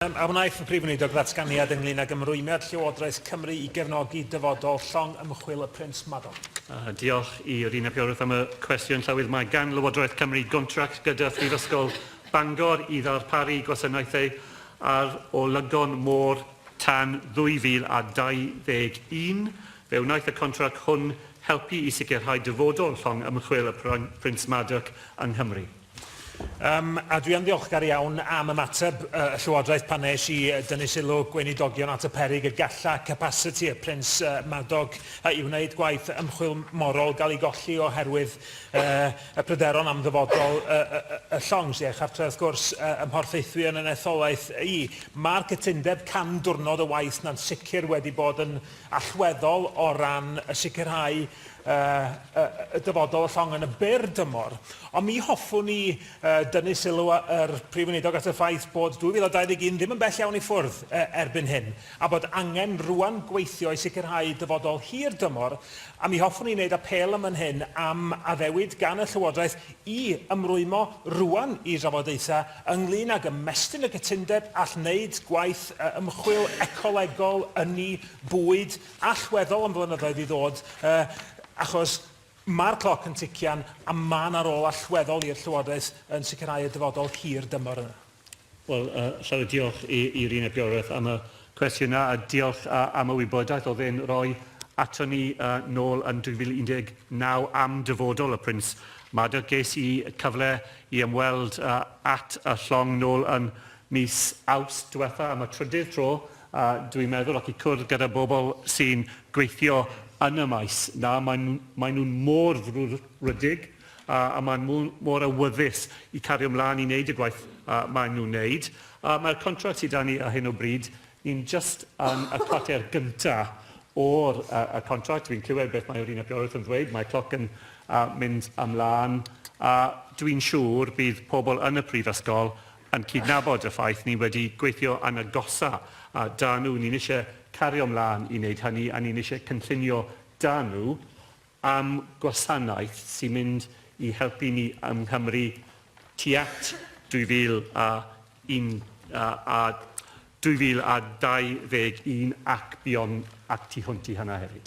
A wnaeth y Prif Weinidog ddatganiad ynglŷn ag ymrwymiad Llywodraeth Cymru i gefnogi dyfodol llong ymchwil y Prins Madog? Diolch i Rhun ap Iorwerth am y cwestiwn. Llywydd, mae gan Lywodraeth Cymru gontract gyda Phrifysgol Bangor i ddarparu gwasanaethau ar olygon môr tan 2021. Fe wnaeth y contract hwn helpu i sicrhau dyfodol llong ymchwil y Prins Madog yng Nghymru. Yym, a dwi yn ddiolchgar iawn am ymateb y Llywodraeth pan nes i dynnu sylw Gweinidogion at y peryg y galla capasiti y Prins Madog i wneud gwaith ymchwil morol gael ei golli oherwydd y pryderon am ddyfodol y llong, sy a'i chartref wrth gwrs, ym Mhorthaethwy yn yn etholaeth i. Mae'r cytundeb can diwrnod o waith 'na'n sicr wedi bod yn allweddol o ran y sicrhau y dyfodol y llong yn y byr dymor. Ond mi hoffwn i dynnu sylw yr Prif Weinidog at y ffaith bod 2021 ddim yn bell iawn i ffwrdd erbyn hyn, a bod angen rŵan gweithio i sicrhau dyfodol hir dymor, a mi hoffwn i wneud apêl ym man hyn am addewid gan y Llywodraeth i ymrwymo rŵan i drafodaethau ynglŷn ag ymestyn y cytundeb all wneud gwaith ymchwil ecolegol, ynni, bwyd, allweddol am flynyddoedd i ddod, achos mae'r cloc yn tician a mae 'na rôl allweddol i'r Llywodraeth yn sicrhau y dyfodol hir dymor yna. Wel, llawer diolch i, i Rina Bioreth am y cwestiwn yna, a diolch uh, am y wybodaeth oedd e'n rhoi ato ni uh, nôl yn 2019 am dyfodol y Prins Madog. Ges i cyfle i ymweld uh, at y llong nôl yn mis Awst diwetha am y trydydd tro, uh, dwi'n meddwl, ac i cwrdd gyda bobl sy'n gweithio yn y maes na, maen nhw'n mor frwdfrydig a maen nhw mor awyddus i cario mlaen i wneud y gwaith maen nhw'n wneud. Mae'r contract sy 'da ni ar hyn o bryd, ni'n jyst yn y cwarter gyntaf o'r contract. Dwi'n clywed beth mae yr Uned Bioamrywiaeth yn ddweud, mae'r cloc yn mynd ymlaen, a dwi'n siŵr bydd pobl yn y Prifysgol yn cydnabod y ffaith ni wedi gweithio yn agosaf 'da nhw, ni'n eisiau cario mlaen i wneud hynny a ni'n eisiau cynllunio 'da nhw. am gwasanaeth sy'n mynd i helpu ni yng Nghymru tuat 2021 ac buom ac tu hwnt i hynna hefyd.